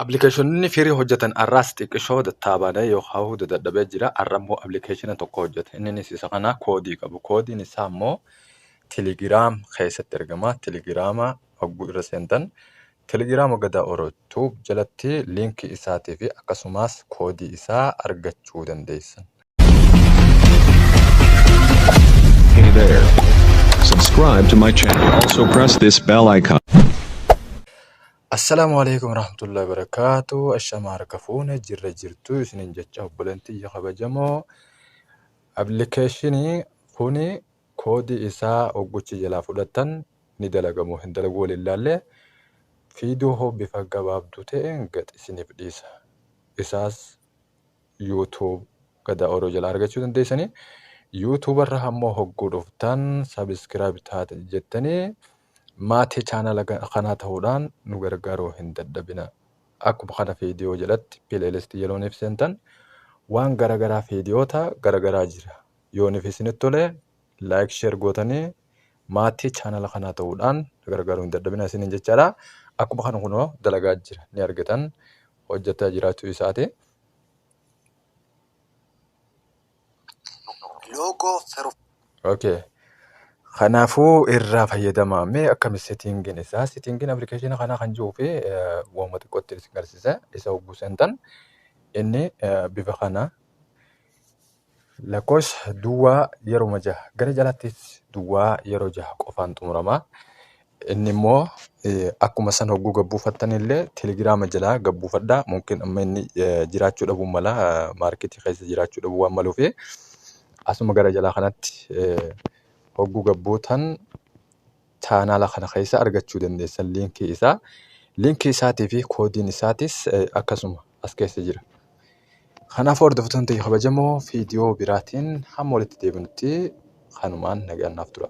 Appilikeeshinonni firii hojjetan arraas xiqqishoo dattaabaadha yookaan dadhabee jira. Arra immoo appilikeeshina tokko hojjeta. Inninis isa kana koodii qabu. Koodiin isaa immoo Telegiraam keessatti argama. Telegiraama hogguu irra seentan Telegiraama Gadaa Oro Tuub jalatti liinkii isaatii fi akkasumas koodii isaa argachuu dandeessan. Hey there. Subscribe to my channel. Also press this bell icon. Assalaamu Aleeykum Warahmatullaahi Wabarakaatuh Ashamaa harka fuune jirra jirtu isinin jecha obboleen tiyya kabajamoo application kuni koodii isaa ogguchi jalaa fudhattan ni dalagamoo hin dalagu waliin laalle fiidoo hoo bifa gabaabduu ta'een gad isiniif dhiisa isaas YouTube gadaa oroo jalaa argachuu dandeessanii YouTube irra ammoo hogguu dhuftan subscribe taate jettanii Maatii channel kanaa ta'uudhaan nu gargaaruu hin dadhabina. Akkuma kana video jalatti playlist yeroo nuuf seentan waan garagaraa videoota garagaraa jira. Yoo nuuf isinitti tole like share gootanii maatii channel kanaa ta'uudhaan nu gargaaruu hin dadhabina isiniin jechaadha. Akkuma kana kunoo dalagaa jira ni argitan hojjetaa jiraachuu isaati. Logo Fero Okay. Kanaafuu irraa fayyadamaa mee akkami settingin isaa settingin application kanaa kan jiruu fi waanuma xiqqootti isin garsiisa isa hogguu seentan inni eh, bifa kana lakkoofsa duwwaa yeruma jaha gara jalaattis duwwaa yeroo jaha qofaan xumurama Inni immoo akkuma san hogguu gad buufattan illee telegiraama jalaa gad buufadhaa. Mumkin amma inni jiraachuu dhabuu mala maarkeetii keessa jiraachuu dhabuu waan maluuf asuma gara jalaa kanatti hogguu gad buutan chaanaala kana keessa argachuu dandeessan liinkii isaa. Liinkii isaatii fi koodiin isaatis akkasuma. as keessa jira. Kanaaf hordoftoonni ta'e kabajamoo viidiyoo biraatiin hamma walitti deebinutti kanumaan nagaan naaf tura.